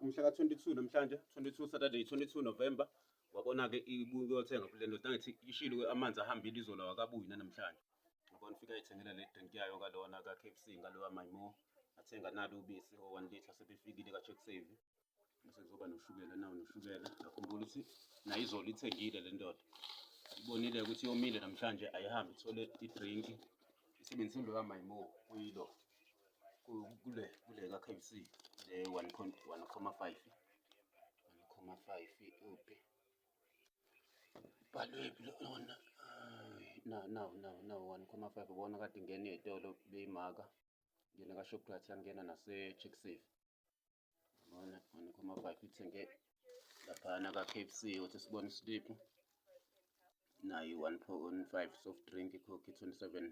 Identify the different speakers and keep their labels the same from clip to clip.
Speaker 1: umhla ka-22 namhlanje 22 Saturday 22 November wabona-ke ibuye kuyothenga kule ndoda ngithi ishilo amanzi ahambile izolo wakabuyi nanamhlanje ngibona ufika ithengela le drink yayo kalona ka-k f c ngalowa mymo athenga nalo ubisi o-one litre sebefikile ka-check save bese kuzoba noshukela nawo noshukela akhumbula ukuthi nayo izolo ithengile le ndoda ibonile ukuthi yomile namhlanje ayihambe ithole idrinki isebenzise loya mymo kuyilo kule kule ka KFC le 1.1,5 1,5 uphi balwephi lona na na na na 1,5 ubona kade ngena ezitolo beyimaka ngena ka Shoprite yangena nase Chick Safe ubona 1,5 ithenge laphana ka KFC uthi sibone slip nayo 1.5 soft drink coke 27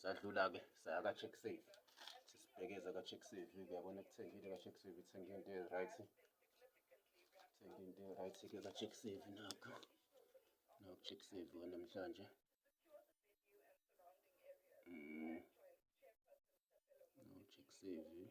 Speaker 1: sadlula-ke saya ka-check save sesibhekeza ka-check save kuyabona kuthengile ka-check save ithenge into e-right thenge into e-right-ke ka-check save nakho naku-check save wanamhlanje mm. no-check save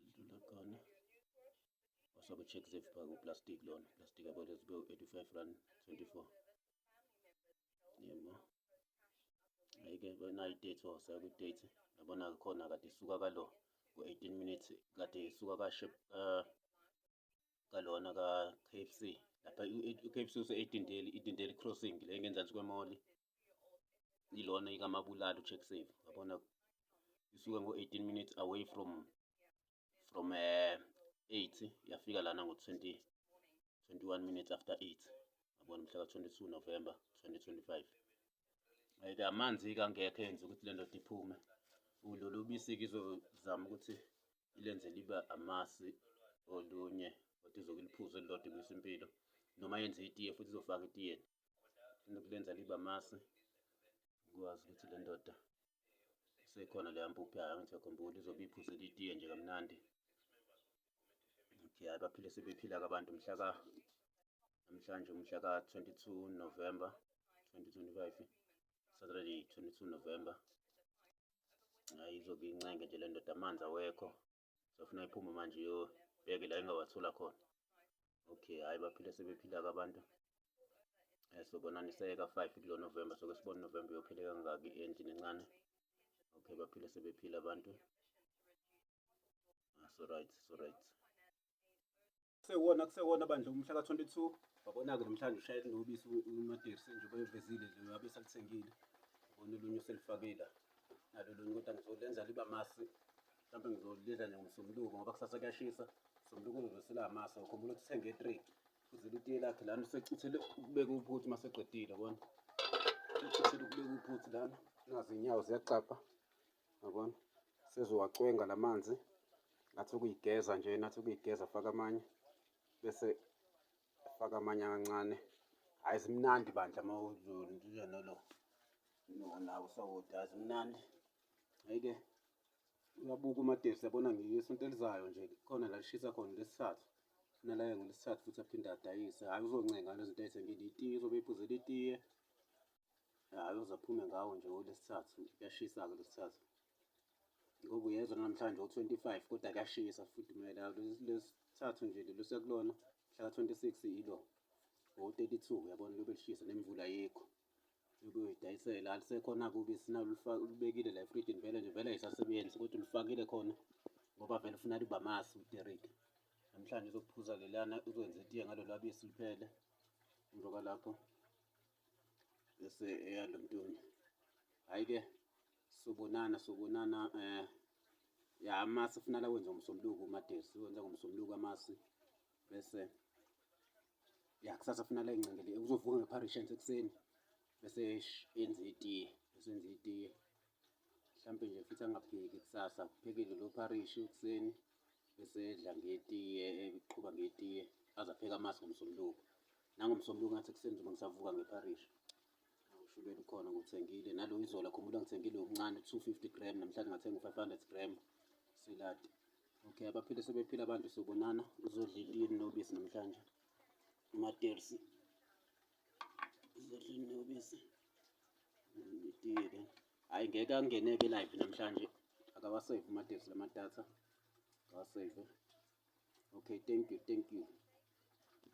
Speaker 1: sidlula khona wasobe check zivipha kuplastic lona plastic yabo lezibe u-85 rand 24 yebo ayike nayi date wawusaya kwi-date yabona khona kade isuka kalo ku-18 minutes kade isuka kashe uh, kalona ka-KFC lapha u-KFC use-edindeli idindeli crossing le ngenzansi kwemoli ilona ikamabulala ucheck save yabona isuke ngo-18 minutes away from from uh, eh, 8 yafika lana ngo-20 21 minutes after 8 yabona mhla ka-22 november 2025 ayike amanzi-ke angekho enza ukuthi le ndoda iphume ulolu bisi-ke izozama ukuthi ilenze libe amasi olunye kodwa izokuliphuza elilodwa ibisa impilo noma yenze itiye futhi izofaka etiyeni inokulenza libe amasi ukwazi ukuthi le ndoda sekhona leya mpuphu yayo angijakhumbuli izobe iphuzela itiye nje kamnandi okay hayi baphile sebephila-ke abantu mhla ka namhlanje umhla ka-22 november 2025 saturday 22 november hayi izobe incenge nje le ndoda amanzi awekho safuna iphume manje iyobheke la ingawathola khona okay hhayi baphile sebephila-ke abantu um so bonani seyeka-five kulo novemba soke sibone unovemba uyophile kangaki endlini encane okay baphile sebephila abantu ah, so right so right Kusewona kusewona bandla umhla ka-22 wabona-ke namhlanje ushayela nobisi umadirse njengoba evezile nje ngabe salithengile ubona olunye uselifakile nalo lunye kodwa ngizolenza liba masi mhlawumbe ngizolidla nje ngomsombuluko ngoba kusasa kuyashisa somluko uzosela amasi wakho umuntu uthenge e-three uzela itiye lakhe lana usecithele ukubeka uphuthi uma seqedile kona ucithele ukubeka uphuthi lana nazi iy'nyawo ziyaxapha yabona sezowacwenga la manzi ngathi ukuyigeza nje nathi ukuyigeza faka amanye bese faka amanye akancane hhayi zimnandi bandla uma uzondile nolo nona usawoti hhayi zimnandi hhayi-ke uyabuka umadesi yabona ngisonto elizayo nje khona la lishisa khona lesithathu funa laye ngolesithathu futhi aphinde adayise hhayi uzoncenga lezinto ayithengile itiye uzobe iphuzela itiye uzophume ngawo nje olesithathu kuyashisa-ke lesithathu ngoba uyezwa namhlanje o-twenty five kodwa kuyashisa futhi kumele lesithathu nje lelo sekulona mhlaka twenty six ilo o-thirty two uyabona lobe lishisa nemvula yikho ukuyidayisela alisekhona kubi sinalubekile la efrijini vele nje vele ayisasebenzi kodwa ulifakile khona ngoba vele ufuna liba masi uderike namhlanje uzokuphuza lelana uzokwenza itiye ngalo lwabisi luphele njengoba lapho bese eyalo mntwana hayi ke sobonana sobonana eh ya amasi funala wenza ngomsombuluko umadesi wenza ngomsombuluko amasi bese ya kusasa funala ingcengele uzovuka ngepharishens ekuseni bese enza itiye bese enza itiye mhlampe nje futhi angapheki kusasa kuphekile lo pharishi ekuseni bese edla ngetiye eqhuba ngetiye aze apheke amasi ngomsombuluko nangomsombuluko ngathi ekuseni njengoba ngisavuka ngepharishi ushukela ukhona ngithengile nalo izola khumbula ngithengile okuncane 250 gram namhlanje ngathenga u-500 gram siladi okay abaphile sebephila abantu sobonana uzodla itini nobisi namhlanje umatersi Zidlini nobisi. Ngidile. Hayi ngeke angene ke live namhlanje. Akawasave uMadesi lama data. Akawasave. Okay, thank you, thank you.